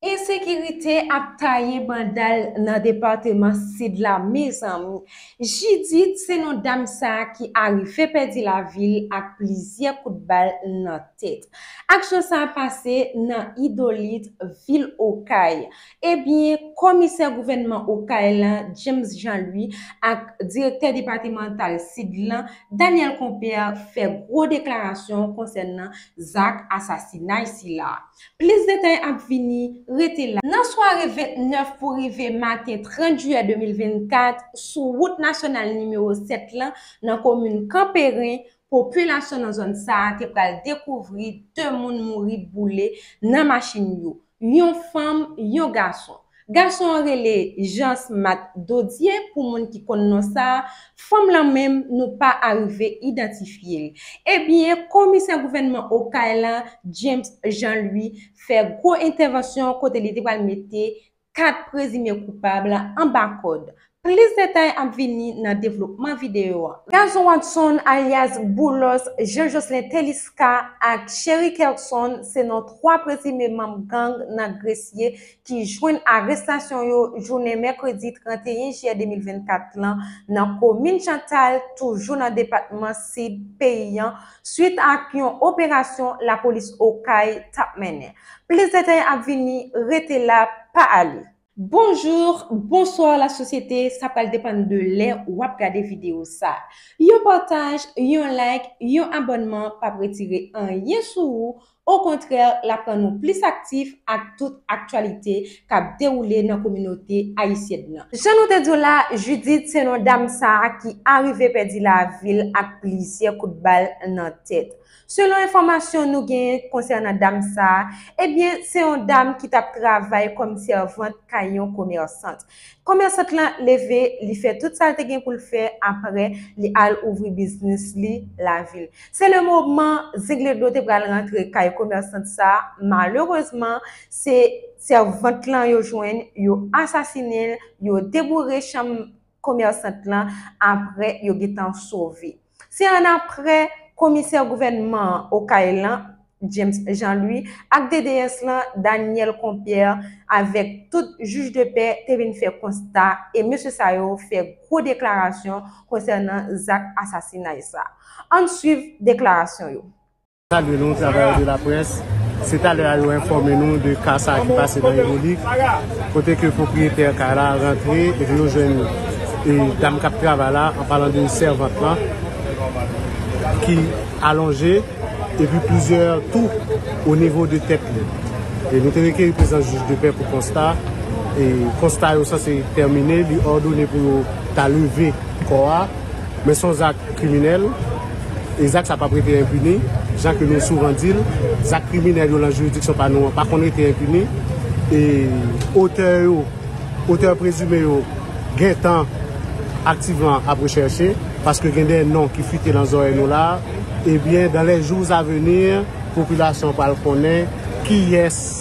Ensekirite ap taye banda l nan depateman Sid la mezanmi. Jidit se non dam sa ki arive pèdi lavi l ak plizyè kout bal nan tèt. Aksyon sa pase nan Idolit, vil Okay. Ebyen, Komisè gouvènman Okay lan, James Jean Louis ak Direktè depatemantal Sid lan, Daniel Compère fè gwo deklarasyon konsènan zak asasinay sila. Plis detay ap vini, rete la. Nan sware 29 pou rive maten 30 jiyè 2024, sou wout nasyonal nimewo 7 lan, nan komin Kanperen, popilasyon nan zòn sa a te pral dekouvri 2 moun mouri boule nan machin yo, yon fanm, yon gason. Gason an rele Jansmat Dodye pou moun ki konn non sa, fanm lan menm nou pa arive idantifye l. Ebyen komisè gouvènman Okay lan James Jean Louis fè gwo entèvansyon kote li te pral mete 4 prezime koupab anba kòd Plis detay ap vini nan devlopman videyo an. Gazon Watson alyas Boulos, Jean Jocelyn Telisca ak Chery Kerson se non 3 prezime manm gang nan Gresye ki jwenn arestasyon yo jounen mèkredi 31 jiyè 2024 lan nan komin Chantal toujou nan depatman Sid peyi an swit ak yon operasyon lapolis Okay tap mennen. Plis detay ap vini, rete la pa ale. Bonjour, bonsoir la société, sa pral depann de lè wap gade video sa. Yon partaj, yon like, yon abònman pap retire anyen sou ou, o kontrè lap rann ou plis aktif ak tout aktyalite kap dewoule nan kominote ayisyèn nan. Jan nou te di w la, Judith se non dam sa ki arive pèdi lavil ak plizyè kout bal nan tèt. Selon enfòmasyon nou genyen konsènan dam sa a, ebyen se yon dam ki t ap travay kòm sèvant kay yon komèsant. Komèsant lan leve, li fè tout sa l te gen pou l fè, aprè li al ouvri biznis li lavil. Se le moman Zengledo te pral rantre kay komèsant sa a, malerezman se sèvant lan yo jwenn, yo asasinen l, yo deboure chanm komèsant lan aprè yo gentan sove. Se annapre, komisè gouvènman an Okay lan, James Jean Louis, ak DDS lan, Daniel Compierre, avèk tout jij de pè te vin fè konsta e mesye sa yo fè gwo deklarasyon konsènan zak asasinay sa. Ann suiv deklarasyon yo. Salye nou travayè de la près, se talè a yo enfòme nou de ka sa ki pase nan Evolik, kote ke pwopriyetè kay la rantre epi yo jwenn dam kap travay la an palan de sèvant lan ki alonje epi plizyè tou o nivo de tèt li. E nou te rekeri prezans jij de pè pou konsta, e konsta yo sanse tèmine, li òdone pou yo ta leve kò a. Men son zak kriminèl e zak sa pap rete enpini, jan ke nou souvan di l, zak kriminèl yo lan jiridiksyon pa nou an pa konn rete enpini e otè yo, otè prezime yo gentan aktivman ap rechèche paske gen de non ki fite lan zòrèy nou la a, ebyen dans les jours à venir popilasyon pral konnen kiyès.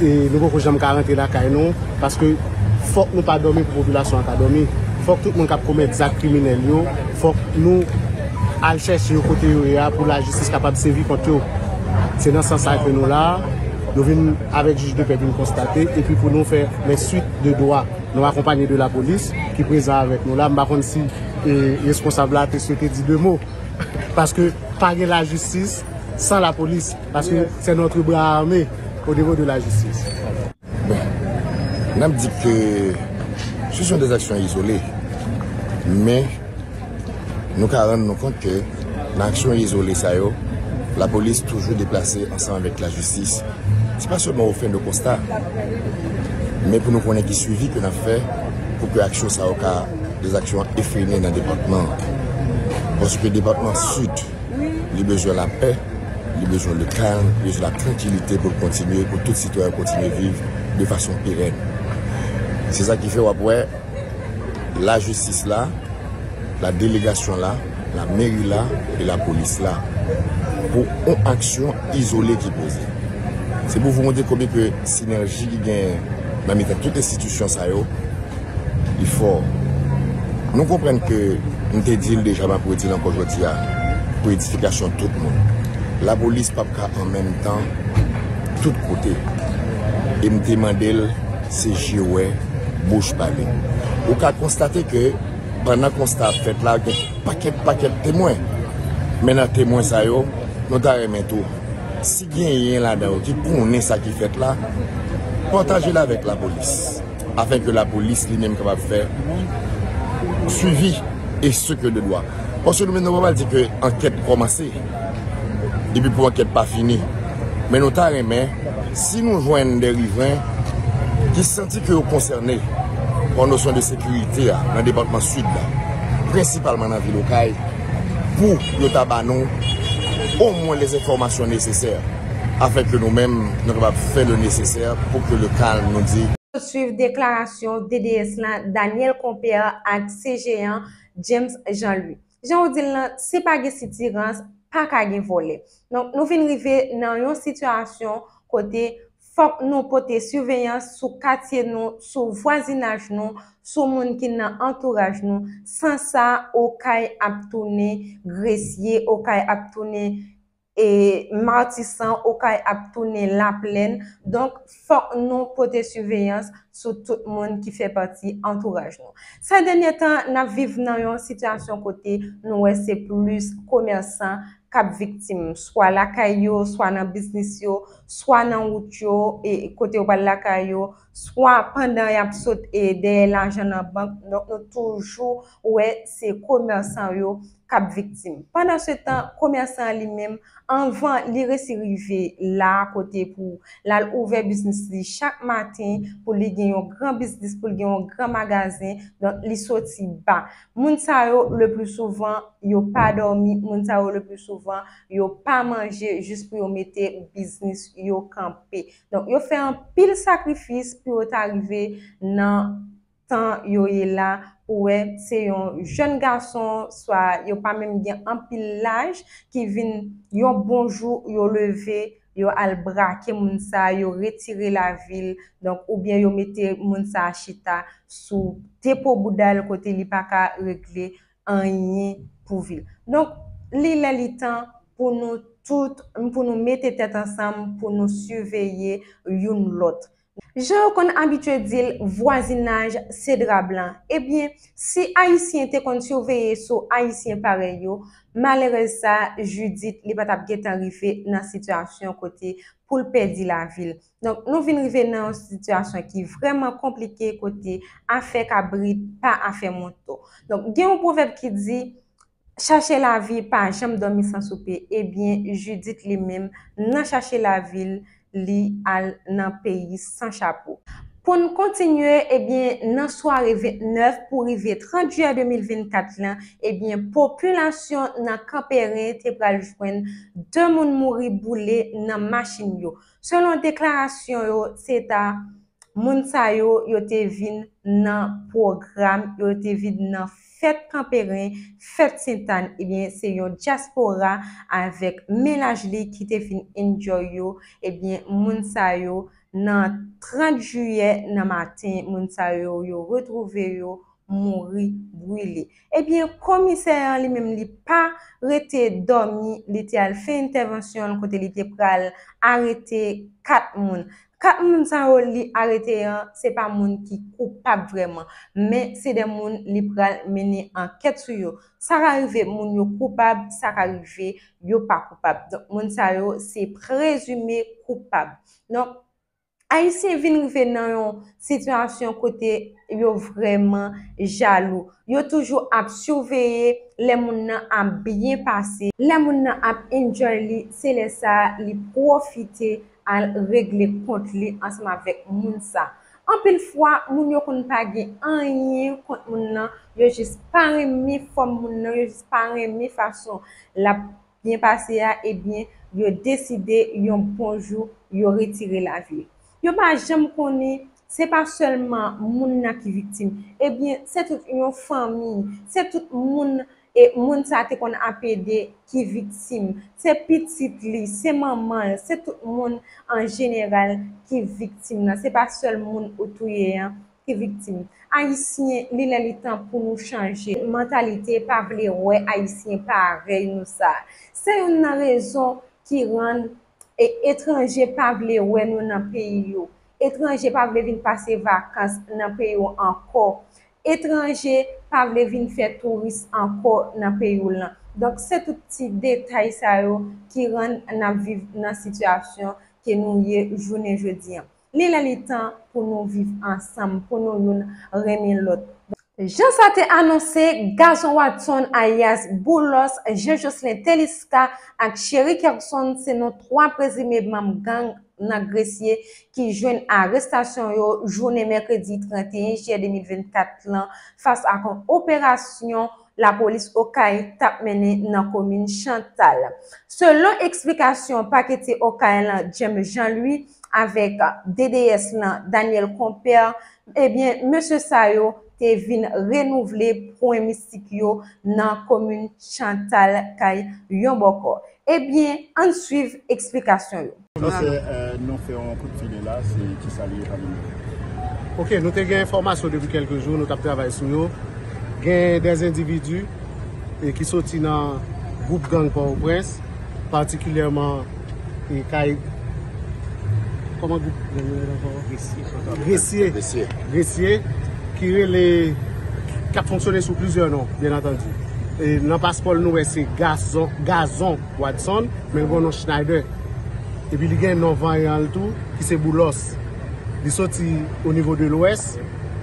Nou poko janm ka rantre lakay nou paske fòk nou pa dòmi pou popilasyon an ka dòmi. Fòk tout moun k ap komèt zak kriminèl yo, fòk nou al chèche yo kote yo ye a pou lajistis kapab sevi kont yo. Se nan sans sa ke nou la a, nou vin avèk jij de pè pou nou konstate epi pou nou fè lè suit de dwa. Nou akonpanye de lapolis ki prezan avèk nou la. M pa konn si reskonsab la te swete di de mo paske pa gen lajistis san lapolis. Paske se notre bra arme o nivo de la jistis. Bon, n ap di ke si son de aksyon izole, men nou ka rann nou kont ke nan aksyon izole sa yo, la polis toujou deplase ansanm avèk la jistis. Se pa sèlman ou fè nou konsta, men pou nou konnen ki swivi ke n ap fè pou ke aksyon sa yo ka de aksyon efrene nan depatman. Paske depatman sid. Li bezwen lapè, li bezwen le kalm, li bezwen la trankilite pou l kontinye, pou tout sitwayen yo kontinye viv de fason perèn. Se sa ki fè w ap wè lajistis la, la delegasyon la, la meri la e la polis la pou yon aksyon izole ki poze. Se pou w vou wonde konbyen ke sinèji ki genyen nan mitan tout enstitisyon sa yo. Li fò. Nou konprann ke m te di l deja m ap redi l ankò jodi a pou edifikasyon tout moun. Lapolis p ap ka an menm tan tout kote. E m te mande l se je wè, bouch pale. Ou ka konstate ke pandan konsta ap fèt la gen pakèt pakèt temwen. Men nan temwen sa yo, nou ta renmen tou, si genyen ladan yo ki konnen sa ki fèt la, pataje l avèk lapolis. Afin ke lapolis li menm kapab fè swivi e se ke de dwa. Paske nou menm nou pa pral di ke ankèt kòmanse epi pou ankèt pa fini. Men nou ta renmen si nou jwenn de rivren ki santi ke yo konsène pa nosyon de sekirite a nan depatman Sid la, prensipalman nan vil Okay, pou yo ta ba nou omwen lèzenfòmasyon nesesè. Afin que nou menm nou kapab fè le nécessaire pour que le calme nou di. Swiv deklarasyon DDS la Daniel Compère ak CGEan James Jean Louis. Jan ou di l lan, si pa gen sitirans, pa ka gen vòlè. Donk nou vin rive nan yon sitiyasyon kote fòk nou pote siveyans sou katye nou, sou vwazinaj nou, sou moun ki nan antouraj nou. San sa, Okay ap tounen gresye, Okay ap tounen. E Matisan, Okay ap tounen laplèn, donk fòk nou pote siveyans sou tout moun ki fè pati antouraj nou. Sè dènyè tan, n ap viv nan yon sitiyasyon kote nou wè se plis komèsan k ap viktim, swa lakay yo, swa nan biznis yo, swa nan wout yo, e kote yo pral lakay yo, swa pandan y ap sot e dèyè lajan nan bank, donk nou toujou wè se komèsan yo k ap viktim. Pandansetan, komèsan an li menm, anvan li resi rive la a kote pou l al ouvè biznis li chak maten, pou li gen yon gran biznis, pou l gen yon gran magazen, donk li soti ba. Moun sa yo, leplisouvan, yo pa dòmi, moun sa yo, leplisouvan, yo pa manje jis pou yo mete biznis yo kanpe. Donk, yo fè anpil sakrifis pou yo ta rive nan tan yo ye la ou wè se yon jèn gason swa yo pa menm gen anpil laj ki vin yon bon jou yo leve yo al brake moun sa yo retire lavil donk oubyen yo mete moun sa chita sou depo boudal kote li pa ka regle anyen pou vil donk li lè li tan pou nou tout pou nou mete tèt ansanm pou nou siveye youn lòt Jan yo konn abitye di l vwazinaj se dra blan. Ebyen, si Ayisyen te konn siveye sou Ayisyen parèy yo, malerèz sa a, Judith, li pa t ap gen tan rive nan sitiyasyon kote pou l pèdi lavi l. Donk, nou vin rive nan yon sitiyasyon ki vrèman konplike kote afè kabrit pa afè mouton. Donk, gen yon pwovèb ki di, Chache lavi pa janm dòmi san soupe ebyen Judith li menm nan chache lavi l li al nan peyi san chapo. Pou n kontinye ebyen nan sware 29 pou rive 30 jiyè 2024 lan ebyen popilasyon nan Kanperen te pral jwenn 2 moun mouri boule nan machin yo selon deklarasyon yo se ta moun sa yo yo te vin nan pwogram yo te vin nan Fèt Kanperen, Fèt Sentàn ebyen se yon dyaspora avèk mennaj li ki te vin enjoy yo ebyen moun sa yo nan 30 jiyè nan maten moun sa yo yo retwouve yo mouri brile ebyen komisè an li menm li pa rete dòmi li te al fè entèvansyon l kote li te pral arete 4 moun 4 moun sa yo li arete an se pa moun ki koupab vrèman, men se 2 moun li pral mennen ankèt sou yo. Sa ka rive moun yo koupab, sa ka rive yo pa koupab. Donk moun sa yo se prezime koupab. Donk, Ayisyen vin rive nan yon sitiyasyon kote yo vrèman jalou. Yo toujou ap siveye lè moun nan ap byen pase. Lè moun nan ap enjoy li, se lè sa a li pwofite al regle kont li ansanm avèk moun sa. Anpil fwa, moun yo konn pa gen anyen kont moun nan, yo jis pa renmen fòm moun nan, yo jis pa renmen fason l ap byen pase a, ebyen yo deside yon bon jou yo retire lavi l. Yo pa janm konnen se pa sèlman moun nan ki viktim, ebyen se tout yon fanmi, se tout moun E moun sa te konn ap ede ki viktim. Se pitit li, se manman l, se tout moun an jeneral ki viktim nan. Se pa sèl moun ou touye an ki viktim. Ayisyen, li lè li tan pou nou chanje mantalite pa vle wè Ayisyen parèy nou sa. Se youn nan rezon ki rann etranje pa vle wè nou nan peyi yo. Etranje pa vle vin pase vakans nan peyi yo ankò. etranje pa vle vin fè touris ankò nan peyi w lan. Donk se tout ti detay sa yo ki rann n ap viv nan sitiyasyon ke nou ye jounen jodi an. Li lè li tan pou nou viv ansanm, pou nou youn renmen lòt. Jan sa te anonse, Gaston Watson alyas Boulos, Jean Jocelyn Teliska ak Chery Kerson se non 3 prezime manm gang nan Gresye ki jwenn arestasyon yo jounen mèkredi 31 jiyè 2024 lan fas ak yon operasyon lapolis Okay t ap mennen nan komin Chantal. Selon eksplikasyon paketye Okay lan James Jean Louis avèk DDS lan Daniel Compère, ebyen mesye sa yo te vin renouvle pwen mistik yo nan komin Chantal kay yon bòkò. Ebyen, ann swiv eksplikasyon yo. Nan fè nou fè yon kout file la se kisa li ye pa nou mele. Ok nou te gen enfòmasyon depi kelke jou nou tap travay sou yo gen des individus ki soti nan group gang port au prince particulièrement E kay Koman group gang nan rele ankò? Gresye. Gresye. Gresye. Gresye ki rele k ap fonksyone sou plizyè non byen antandi. E nan paspò l nou wè se Gazon Gazon Wadson men l gen yon non Schneider. E pi li gen non vanyan l tou ki se Boulos. Li soti o nivo de lwès,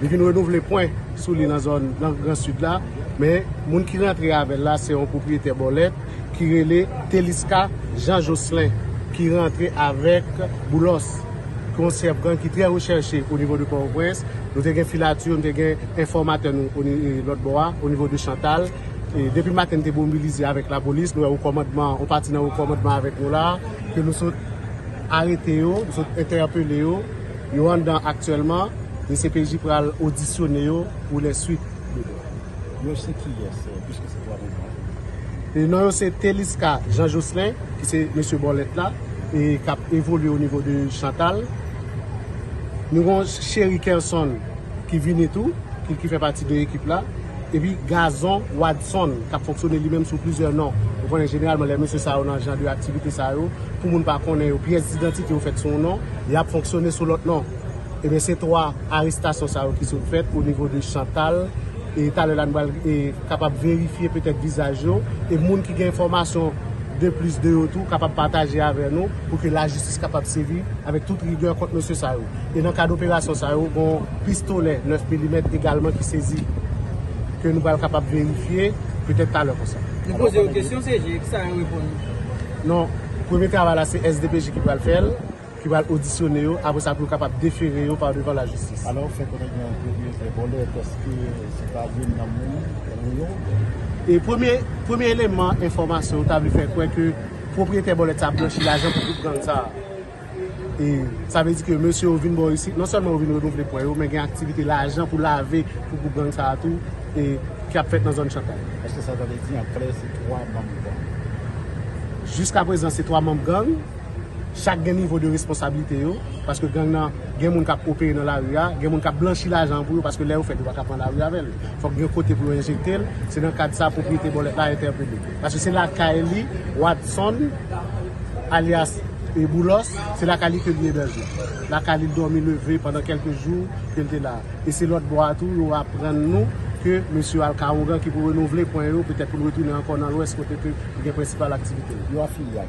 li vin renouvle pwen sou li nan zòn nan gran sid la men moun ki rantre avè l la se yon pwopriyetè bòlèt. ki rele Teliska Jean Jocelin ki rantre avèk Boulos ki yon chèf gang ki trè rechèche o nivo de Pòtoprens. Nou te gen filature, nou te gen enfòmatè nou o ni lòt bò a, o nivo de Chantal. E depi maten nou te mobilize avèk lapolis, nou wè o kòmandman, yon pati nan o kòmandman avèk nou la, ke nou sot arete yo, nou sot entèpele yo, yo anndan aktyèlman, dcpj pral odisyone yo pou lè suit. Yo se kiyès piske se 3 moun sa yo? Non yo se Telisca Jean Jocelin ki se mesye bòlèt la e k ap evolye o nivo de Chantal. Nou gen yon Cheri Kerson ki vini tou, ki fè pati de ekip la. Epi Gazon Wadson k ap fonksyone li menm sou plizyè non. Ou konnen jeneralman lè mesye sa yo nan jan de aktivite sa yo, pou moun pa konnen yo, pyès didantite yo fèt sou yon non, y ap fonksyone sou lòt non. Ebyen se 3 arestasyon sa yo ki sot fèt o nivo de Chantal e talè la nou pral kapab verifye petèt vizaj yo e moun ki gen enfòmasyon de plis de yo tou kapab pataje avè nou pou ke lajistis kapab sevi avèk tout rigè kont mesye sa yo. E nan kad operasyon sa yo gon pistolè 9 milimèt egalman ki sezi ke nou pral kapab verifye petèt talè konsa. Nou poze yo kesyon CG, kisa yo reponn nou? Non, premye travay la se SDPJ ki pral fèl. ki pral odisyone yo apre sa pou yo kapab defere yo pa devan lajistis. Alò, fè konnen gen yon pwopriyetè vòlè paske se pa youn nan moun Rou yo. E premye premye eleman enfòmasyon nou ta vle fè kwè ke pwopriyetè bòlèt sa ap blanchi lajan pou gwoup gang sa. E sa vle di ke mesye yo vin bò isit, non sèlman yo vin renouvle pwè yo men gen aktivite lajan pou lave pou gwoup gang sa tou e ki ap fèt nan zòn Chantay. Eske sa ta vle di an klè se 3 manm gang? Jiska prezan se 3 manm gang. Chak gen nivo de responsabilite yo, paske gang nan gen moun kap opere nan lari a, gen moun kap blanchi lajan pou yo, paske lè yo fèt yo paka pran lari avè l. Fòk gen yon kote pou yo enjekte l, se nan kad sa pwopriyete bòlèt la entèpele. Paske se lakay li, Watson, alyas Boulos, se lakay li ke li ebèje. Lakay li l dòmi leve pandan kèlke jou ke l te la. E se lòt bò a tou yo aprann nou ke mesye al ka ougan ki pou renouvle pwen yo, petèt pou l retounen ankò nan lwès kote ke li gen prensipal aktivite l.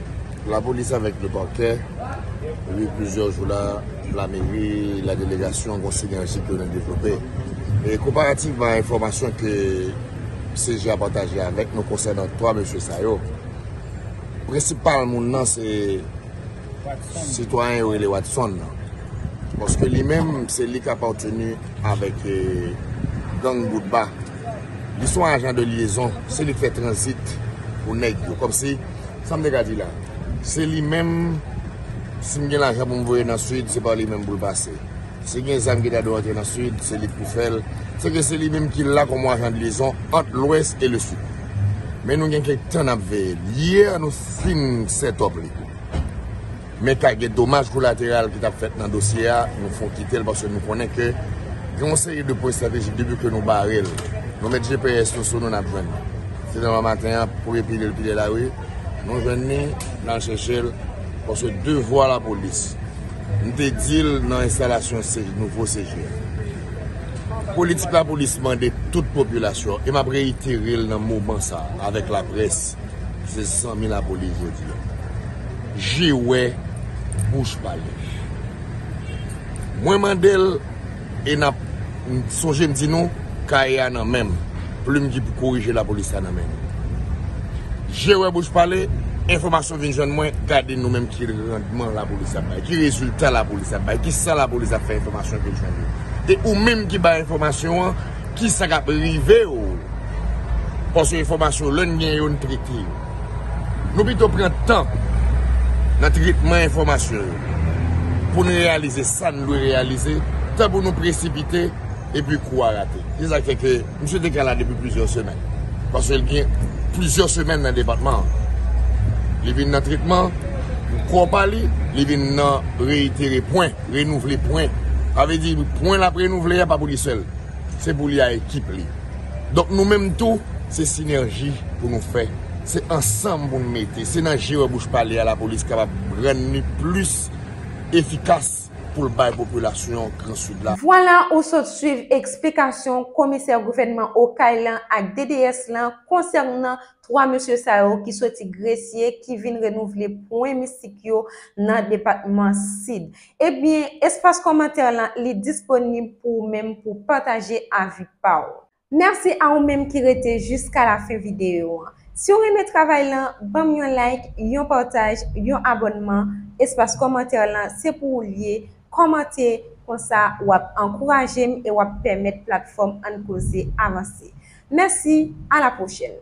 La polis avèk le parquet depi plizyè jou la la meri la delegasyon gon sinerji ke nou devlope e konparativman enfòmasyon ke CGA pataje avèk nou konsènan 3 mesye sa yo prensipal moun nan se sitwayen yo rele Watson nan paske li menm se li ka parteni avèk gang Boutba li son ajan de liyezon se li fè tranzit pou nèg yo kòmsi Sa m te ka di la? Se li menm, si m gen lajan pou m voye nan Sid, se pa li menm pou l pase. Si gen zam ki ta dwe antre nan Sid, se li k pou fè l. Se ke se li menm ki la kòm ajan de lyezon ant Lwès e le Sid. Men nou gen kèk tan n ap veye l. Yè a nou fin sètòp li. Men ka gen domaj kolateral ki tap fèt nan dosye a, nou fon kitel paske nou konnen ke gen yon seri de pwen estratejik depi ke nou barel, nou met GPS nou sou nou nap jwenn li. Se devan maten an, premye pile l pile lari, nou jwenn li, nal chèchel paske devwa lapolis, m te dil nan enstalasyon nouvo CG a. Politik lapolis mande tout popilasyon e map reiterel nan moman sa avèk laprès, se zanmi lapolis jodi a. Je wè bouch pale. Mwen mande l e nap sonje m di nou kaye a nan men m, plim ki pou korije lapolis la nan men nou. Je wè bouch pale, enfòmasyon vin jwenn mwen, gade nou menm ki randman lapolis ap bay, ki rezilta lapolis ap bay, ki sa lapolis ap fè enfòmasyon vin jwenn yo. E ou menm ki bay enfòmasyon an, ki sa k ap rive w, paske enfòmasyon lè n gen yo n trete yo. Nou pito pran tan nan tretman enfòmasyon yo pou n reyalize sa n dwe reyalize tan pou nou presipite epi kou a rate. Se sa k fè ke misye te ka la depi plizyè semèn. Paske l gen plizyè semèn nan depatman an. Li vin nan tretman pou kò pa li, li vin nan reyitere pwen, renouvle pwen. Sa vle di pwen l ap renouvle a pa pou li sèl. Se pou li a ekip li. Donk nou menm tou, se sinèji pou nou fè, se ansanm pou nou mete, se nan je wè bouch pale a lapolis kapab rann li plis efikas pou l bay popilasyon Gran Sid la. Vwala ou sot swiv eksplikasyon komisè gouvènman Okay lan ak DDS lan konsènan 3 mesye sa yo ki soti Gresye ki vin renouvle pwen mistik yo nan depatman Sid. Ebyen, espas kòmantè lan li disponib pou ou menm pou pataje avi pa w. Mèsi a ou menm ki rete jiska la fen videyo an. Si w renmen travay lan, ban m yon like, yon pataj, yon abònman, espas kòmantè lan se pou ou l ye, kòmante, konsa w ap ankouraje m e w ap pèmèt platfòm Ann Koze avanse. Mèsi, a la pwochèn!